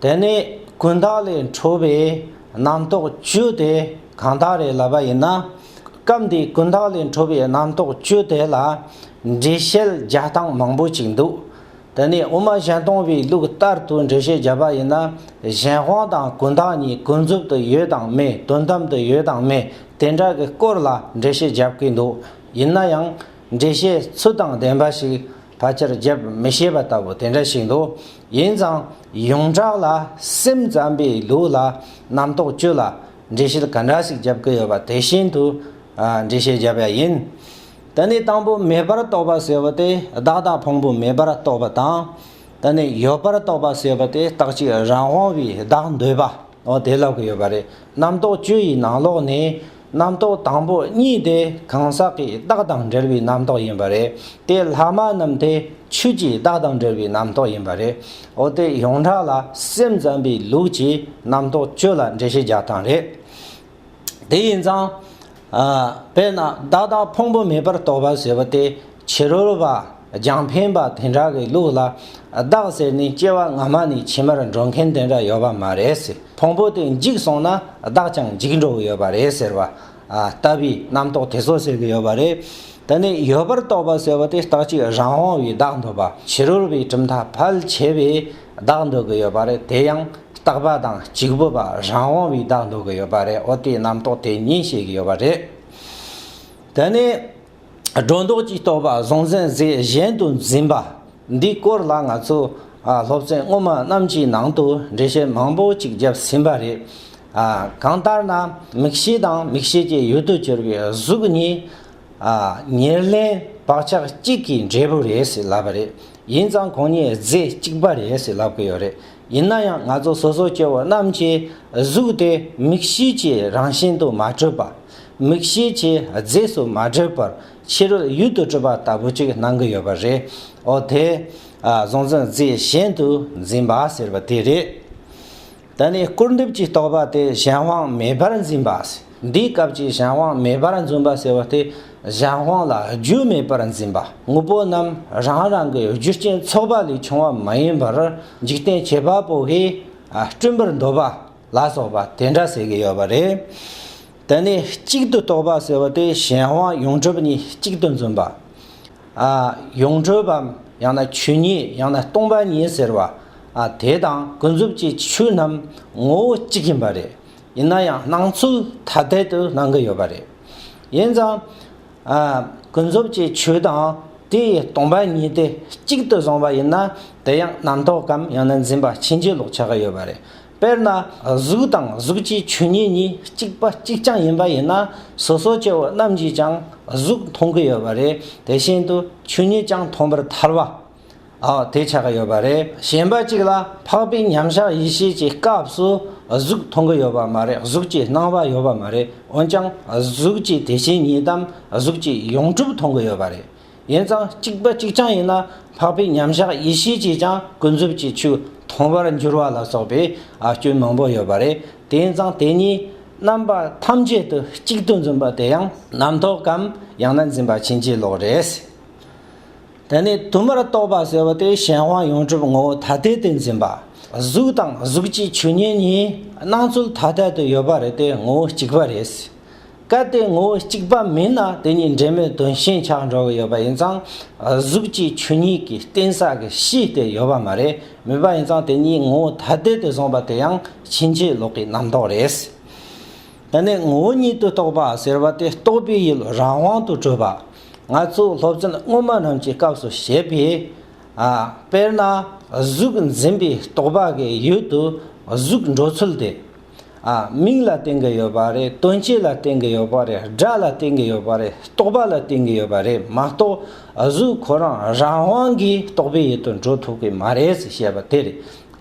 དེ་ནས་ཀུན་བཏགས་ལས་འཕྲོས་པའི་རྣམ་རྟོག་བཅུ་དེ་གང་དག་རེ་ལ་བ་ཡིན་ན། སྐབས་འདིའི་ཀུན་བཏགས་ལས་འཕྲོས་པའི་རྣམ་རྟོག་བཅུ་དེ་ལ་འགྲེལ་བཤད་བརྒྱ་སྟངས་མང་པོ་ཅིག་འདུག་དེ་ནས་དབུ་མ་གཞན་སྟོང་པའི་ལུགས་ལྟར་དུ་འགྲེལ་བཤད་བརྒྱ་པ་ཡིན་ན་གཞན་དབང་དང་ཀུན་བཏགས་གཉིས་ཀུན་རྫོབ་ཏུ་ཡོད་དང་མེད་དོན་དམ་དུ་ཡོད་དང་མེད་དེ་འདྲ་གི་སྐོར་ལ་འགྲེལ་བཤད་བརྒྱབ་ཀྱི་འདུག་ཡིན་ན་ཡང་འགྲེལ་བཤད་ཚུལ་དང་ལྡན་པ་ཞིག་ཕ་ཆེར་བརྗེད་མི་ཤེས་པ་ལྟ་བུ་དེ་འདྲ་ཞིག་འདུག་ཡིན་ཙང་ཡོངས་གྲགས་ལ་སེམས་ཙམ་པའི་ལུགས་ལ་རྣམ་རྟོག་བཅུ་ལ་འགྲེལ་བཤད་ག་འདྲ་ཞིག་བརྒྱབ་ཀྱི་ཡོད་པ་དེ་བཞིན་དུ་འགྲེལ་བཤད་བརྒྱབ་པ་ཡིན། དེ་ནི་དང་པོ་མེད་པར་རྟོགས་པ་ཟེར་བ་དེ་བདག་དང་ཕུང་པོ་མེད་པར་རྟོགས་པ་དང། དེ་ནི་ཡོད་པར་རྟོགས་པ་ཟེར་བ་དེ་རྟག་གཅིག་རང་དབང་བའི་བདག་འདོད་པའོ་དེ་ལོག་གི་ཡོད་པ་རེད་རྣམ་རྟོག་བཅུ་ཡི་ནང་ལོག་ནས་རྣམ་རྟོག་དང་པོ་གཉིས་དེ་གང་ཟག་གི་རྟགས་དང་འབྲེལ་བའི་རྣམ་རྟོག་ཡིན་པ་རེད་དེ། ལྷག་མ་རྣམས་དེ་ཆོས་ཀྱི་རྟགས་དང་འབྲེལ་བའི་རྣམ་རྟོག་ཡིན་པ་རེད། འོ་དེ་ཡོངས་གྲགས་ལ་སེམས་ཙམ་པའི་ལུགས་ཀྱིས་རྣམ་རྟོག་བཅུ་ལ་འགྲེལ་བཤད་རྒྱག་སྟངས་རེད། དེ་ཡིན་ཙང། དཔེར་ན་བདག་དང་ཕུང་པོ་མེད་པར་རྟོགས་པ་ཟེར་བ་དེ་བྱི་རོལ་བ་རྒྱང་འཕེན་པ་དེ་འདྲ་གི་ལུགས་ལ་བདག་ཟེར་ནས་སྐྱེ་བ་སྔ་མ་ནས་ཕྱི་མར་འགྲོ་མཁན་དེ་འདྲ་ཡོད་པ་མ་རེད། ཕུང་པོ་དེ་འཇིག་སོང་ན་བདག་ཀྱང་འཇིག་འགྲོ་གི་ཡོད་པ་རེད་ཟེར་བ་ལྟ་བུའི་རྣམ་རྟོག་དེ་ཚོ་ཟེར་གི་ཡོད་པ་རེད། ད་ནི་ཡོད་པར་རྟོག་པ་ཟེར་བ་དེ་རྟག་གཅིག་རང་དབང་བའི་བདག་འདོད་པ་བྱི་རོལ་བའི་གྲུབ་མཐའ་ཕལ་ཆེ་བས་བདག་འདོད་གི་ཡོད་པ་རེད་དེ་ཡང་རྟག་པ་དང་གཅིག་པུ་བ་རང་དབང་བའི་བདག་འདོད་གི་ཡོད་པ་རེད་ཨོ་དེའི་རྣམ་རྟོག་དེ་ཉིད་བཤད་གི་ཡོད་པ་རེད། ད་ནི། སྒྲོ་འདོགས་ཀྱིས་གཏོགས་པ་བཟང་བཙན་གཟིགས་གཞན་དུ་འཛིན་པ་འདིའི་སྐོར་ལ་ང་ཚོ་སློབ་ཚན་སྔོན་མ་རྣམས་ཀྱི་ནང་དུ་འགྲེལ་བཤད་མང་པོ་ཅིག་བརྒྱབ་ཟིན་པ་རེད། གང་ལྟར་ན་མིག་ཤེས་དང་མིག་ཤེས་ཀྱི་ཡུལ་དུ་གྱུར་པའི་གཟུགས་གཉིས། ཉེར་ལེན་བག་ཆགས་གཅིག་གི་འབྲས་བུ་རེད་ཟེར་ལབ་པ་རེད། ཡིན་ཙང་གང་ཉིད་རྫས་གཅིག་པ་རེད་ཟེར་ལབ་གི་ཡོད་རེད། ཡིན་ན་ཡང་ང་ཚོ་སོ་སོ་སྐྱེ་བོ་རྣམས་ཀྱི་གཟུགས་དེ་མིག་ཤེས་ཀྱི་རང་བཞིན་དུ་མ་གྲུབ་པ། མིག་ཤེས་ཀྱི་རྫས་སུ་མ་བགྲོད་པར་ཕྱི་རོལ་ཡུལ་དུ་སྤྲོད་པ་ལྟ་བུ་ཅིག་གནང་གི་ཡོད་པ་རེད། འོ་དེ། གཟུང་འཛིན་རྫས་གཞན་དུ་འཛིན་པ་ཟེར་བ་དེ་རེད། ད་ནི་སྐུར་འདེབས་ཀྱི་རྟོག་པ་དེ་གཞན་དབང་མེད་པར་འཛིན་པ། འདིའི་སྐབས་ཀྱི་གཞན་དབང་མེད་པར་འཛུན་པ་ཟེར་བ་དེ་གཞན་དབང་ལ་རྒྱུ་མེད་པར་འཛིན་པ་དངོས་པོ་རྣམས་རང་རང་གི་རྒྱུ་རྐྱེན་ཚོགས་པ་ལས་བྱུང་བ་མ་ཡིན་པར་འཇིག་རྟེན་ཁྱད་པར་བ་བོ་དགའི་སྤྲིན་པར་འདོད་པ། ལ་སོགས་པ་དེ་འདྲ་ཟེར་གྱི་ཡོད་པ་རེད། དེ་ནས་གཅིག་ཏུ་རྟོགས་པ་ཟེར་བ་དེ་གཞན་དབང་ཡོངས་གྲུབ་གཉིས་གཅིག་ཏུ་འཛིན་པ། ཡོངས་གྲུབ་བམ་ཡང་ན་ཆོས་ཉིད་ཡང་ན་སྟོང་པ་ཉིད་ཟེར་བ། དེ་དང་ཀུན་རྫོབ་ཀྱི་ཆོས་རྣམས་ངོ་བོ་གཅིག་ཡིན་པ་རེད། ཡིན་ན་ཡང་སྣང་ཚུལ་ཐ་དད་དུ་སྣང་གི་ཡོད་པ་རེད། ཡིན་ཙང། ཀུན་རྫོབ་ཀྱི་ཆོས་དང་དེ་ཡི་སྟོང་པ་ཉིད་དེ་གཅིག་ཏུ་བཟུང་བ་ཡིན་ན་དེ་ཡང་རྣམ་རྟོག་གམ་ཡང་ན་འཛིན་པ་ཕྱིན་ཅི་ལོག་ཆགས་ཀྱི་ཡོད་པ་རེད། དཔེར་ན་གཟུགས་དང་གཟུགས་ཀྱི་ཆོས་ཉིད་གཉིས་གཅིག་པ་གཅིག་རྐྱང་ཡིན་པ་ཡིན་ན་སོ་སོ་སྐྱེ་བོ་རྣམས་ཀྱིས་ཀྱང་གཟུགས་མཐོང་གི་ཡོད་པ་རེད་དེ་བཞིན་དུ་ཆོས་ཉིད་ཀྱང་མཐོང་པར་ཐལ་བ། འོ་དེ་ཆགས་ཀྱི་ཡོད་པ་རེད། གཞན་པ་གཅིག་ལ་འཕགས་པའི་མཉམ་གཞག་ཡེ་ཤེས་ཀྱི་སྐབས་སུ་གཟུགས་མཐོང་གི་ཡོད་པ་མ་རེད་གཟུགས་ཀྱི་སྣང་བ་ཡོད་པ་མ་རེད་འོན་ཀྱང་གཟུགས་ཀྱི་དེ་བཞིན་ཉིད་དམ་གཟུགས་ཀྱི་ཡོངས་གྲུབ་མཐོང་གི་ཡོད་པ་རེད། ཡིན་ཙང་གཅིག་པ་གཅིག་རྐྱང་ཡིན་ན་འཕགས་པའི་མཉམ་གཞག་ཡེ་ཤེས་ཀྱིས་ཀྱང་ཀུན་རྫོབ་ཀྱི་ཆོས་མཐོང་བར་འགྱུར་བ་ལ་སོགས་པའི་སྐྱོན་མང་པོ་ཡོད་པ་རེད་དེ་ཡིན་ཙང་དེ་གཉིས་རྣམ་པ་ཐམས་ཅད་དུ་གཅིག་ཏུ་འཛིན་པ་དེ་ཡང་རྣམ་རྟོག་གམ་ཡང་ན་འཛིན་པ་ཕྱིན་ཅི་ལོག་རེད། དེ་ནས་དུ་མར་རྟོག་པ་ཟེར་བ་དེ་གཞན་དབང་ཡོངས་གྲུབ་ངོ་བོ་ཐ་དད་དུ་འཛིན་པ། གཟུགས་དང་གཟུགས་ཀྱི་ཆོས་ཉིད་གཉིས་སྣང་ཚུལ་ཐ་དད་དུ་ཡོད་པ་རེད་དེ་ངོ་བོ་གཅིག་པ་རེད། གལ་ཏེ་ངོ་བོ་གཅིག་པ་མིན་ན་དེ་གཉིས་འབྲེལ་མེད་དོན་ཞེན་ཆགས་འགྲོ་གི་ཡོད་པ་ཡིན་ཙང། གཟུགས་ཀྱི་ཆོས་ཉིད་ཀྱི་གཏན་ས་གི་གཤིས་དེ་ཡོད་པ་མ་རེད་མོད་པ་ཡིན་ཙང་དེ་གཉིས་ངོ་བོ་ཐ་དད་དུ་བཟུང་བ་དེ་ཡང་ཕྱིན་ཅི་ལོག་གི་རྣམ་རྟོག་རེད། དེ་ནས་ངོ་བོ་ཉིད་དུ་རྟོགས་པ་ཟེར་བ་དེ་རྟོགས་པའི་ཡུལ་རང་དབང་དུ་གྲུབ་པ། ང་ཚོས་སློབ་ཚན་སྔོན་མ་རྣམས་ཀྱི་སྐབས་སུ་བཤད་པའི། དཔེར་ན་གཟུགས་འཛིན་པའི་རྟོག་པ་གི་ཡུལ་དུ་གཟུགས་འགྲོ་ཚུལ་དེ། ཨ། མིག་ལ་བརྟེན་གྱི་ཡོད་པ་རེད་དོན་སྤྱི་ལ་བརྟེན་གྱི་ཡོད་པ་རེད་སྒྲ་ལ་བརྟེན་གྱི་ཡོད་པ་རེད་རྟོག་པ་ལ་བརྟེན་གྱི་ཡོད་པ་རེད་མ་གཏོགས་གཟུགས་ཁོ་རང་རང་དབང་གིས་རྟོག་པའི་ཡུལ་དུ་འགྲོ་ཐུབ་ཀྱི་མ་རེད་ཟེར་བཤད་པ་དེ་རེད།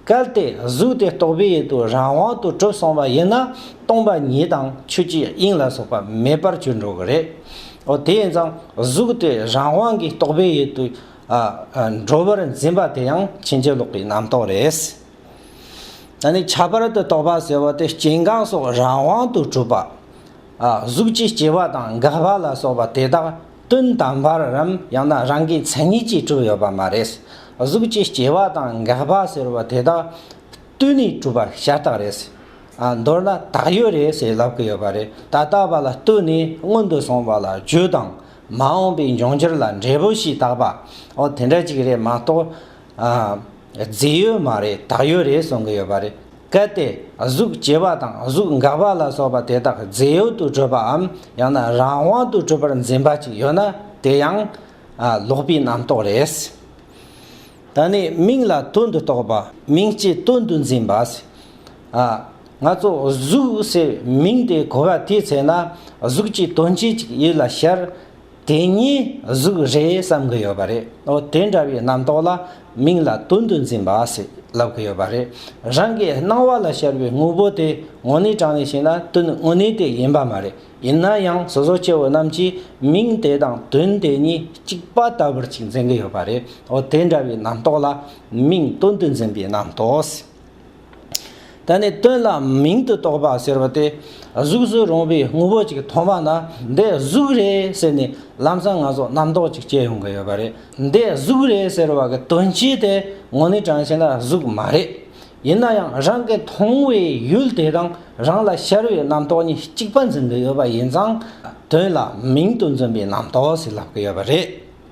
གལ་ཏེ་གཟུགས་དེ་རྟོག་པའི་ཡུལ་དུ་རང་དབང་དུ་གྲུབ་སོང་བ་ཡིན་ན་སྟོང་པ་ཉིད་དང་ཆོས་ཀྱི་དབྱིངས་ལ་སོགས་པ་མེད་པར་གྱུར་འགྲོ་གི་རེད། འོ་དེས་ན་གཟུགས་དེ་རང་དབང་གིས་རྟོག་པའི་ཡུལ་དུ་འགྲོ་བར་འཛིན་པ་དེ་ཡང་ཕྱིན་ཅི་ལོག་གི་རྣམ་རྟོག་རེད། ད་ནི་ཁྱད་པར་དུ་རྟོག་པ་ཟེར་བ་དེ་སྐྱེ་འགག་སོགས་རང་དབང་དུ་གྲུབ་པ། གཟུགས་ཀྱི་སྐྱེ་བ་དང་འགག་པ་ལ་སོགས་པ་དེ་དག་དོན་དམ་པར་རམ་ཡང་ན་རང་གི་མཚན་ཉིད་ཀྱིས་གྲུབ་ཡོད་པ་མ་རེད། གཟུགས་ཀྱི་སྐྱེ་བ་དང་འགག་པ་ཟེར་བ་དེ་དག་བརྟུལ་ནས་གྲུབ་པ་ཤ་སྟག་རེད། མདོར་ན་དག་ཡོད་རེད་ཟེར་ལབ་ཀི་ཡོད་པ་རེད་ད་ལྟ་བ་ལ་བརྟུལ་ནས་སྔོན་དུ་སོང་བ་ལ་རྒྱུ་དང་མ་འོངས་པའི་འབྱུང་འགྱུར་ལ་འབྲས་བུ་ཞིག་བཏགས་པ་འོ་དེ་འདྲ་ཅིག་རེད་མ་གཏོགས། རྫས་ཡོད་མ་རེད་དག་ཡོད་རེད་གསུང་གི་ཡོད་པ་རེད། གལ་ཏེ་གཟུགས་བྱེད་པ་དང་གཟུགས་འགག་པ་ལ་སོགས་པ་དེ་དག་རྫས་ཡོད་དུ་གྲུབ་པའམ་ཡང་ན་རང་དབང་དུ་གྲུབ་པར་འཛིན་པ་ཅིག་ཡོད་ན་དེ་ཡང། ལོག་པའི་རྣམ་རྟོག་རེད། ད་ནི་མིང་ལ་དོན་དུ་རྟོག་པ་མིང་སྤྱིའི་དོན་དུ་འཛིན་པ། ང་ཚོ་གཟུགས་ཟེར་མིང་དེ་གོ་བ་དེའི་ཚེ་ན་གཟུགས་ཀྱི་དོན་སྤྱི་ཅིག་ཡིད་ལ་ཤར། དེ་གཉིས་གཟུགས་རེད་བསམ་གྱི་ཡོད་པ་རེད་འོ་དེ་འདྲ་བའི་རྣམ་རྟོག་ལ་མིང་ལ་དོན་དུ་འཛིན་པ་ཞེས་ལབ་ཀྱི་ཡོད་པ་རེད། རང་གི་སྣང་བ་ལ་ཤར་བའི་དངོས་པོ་དེ་དངོས་གནས་དྲང་བའི་ཞིང་ལ་དོན་དངོས་གནས་དེ་ཡིན་པ་མ་རེད་ཡིན་ན་ཡང་སོ་སོ་སྐྱེ་བོ་རྣམས་ཀྱིས་མིང་དེ་དང་དོན་དེ་གཉིས་གཅིག་པ་ལྟ་བུར་ཅིག་འཛིན་གྱི་ཡོད་པ་རེད་འོ་དེ་འདྲ་བའི་རྣམ་རྟོག་ལ་མིང་དོན་དུ་འཛིན་པའི་རྣམ་རྟོག་ཞེས། ད་ནི་དོན་ལ་མིང་དུ་གཏོགས་པ་ཟེར་བ་དེ་གཟུགས་སུ་རུང་བའི་དངོས་པོ་ཅིག་མཐོང་བ་ན་འདི་གཟུགས་རེད་ཟེར་ནས་ལམ་སང་ང་ཚོ་རྣམ་རྟོག་ཅིག་སྐྱེ་ཡོང་གི་ཡོད་པ་རེད། འདི་གཟུགས་རེད་ཟེར་བ་གི་དོན་སྤྱི་དེ་ངོ་ནི་གྲངས་ཅན་ལ་གཟུགས་མ་རེད། ཡིན་ན་ཡང་རང་གི་མཐོང་བའི་ཡུལ་དེ་དང་རང་ལ་ཤར་བའི་རྣམ་རྟོག་གཉིས་གཅིག་པ་འཛིན་གི་ཡོད་པ་ཡིན་ཙང་དོན་ལ་མིང་དུ་འཛིན་པའི་རྣམ་རྟོག་ཟེར་ལབ་གི་ཡོད་པ་རེད།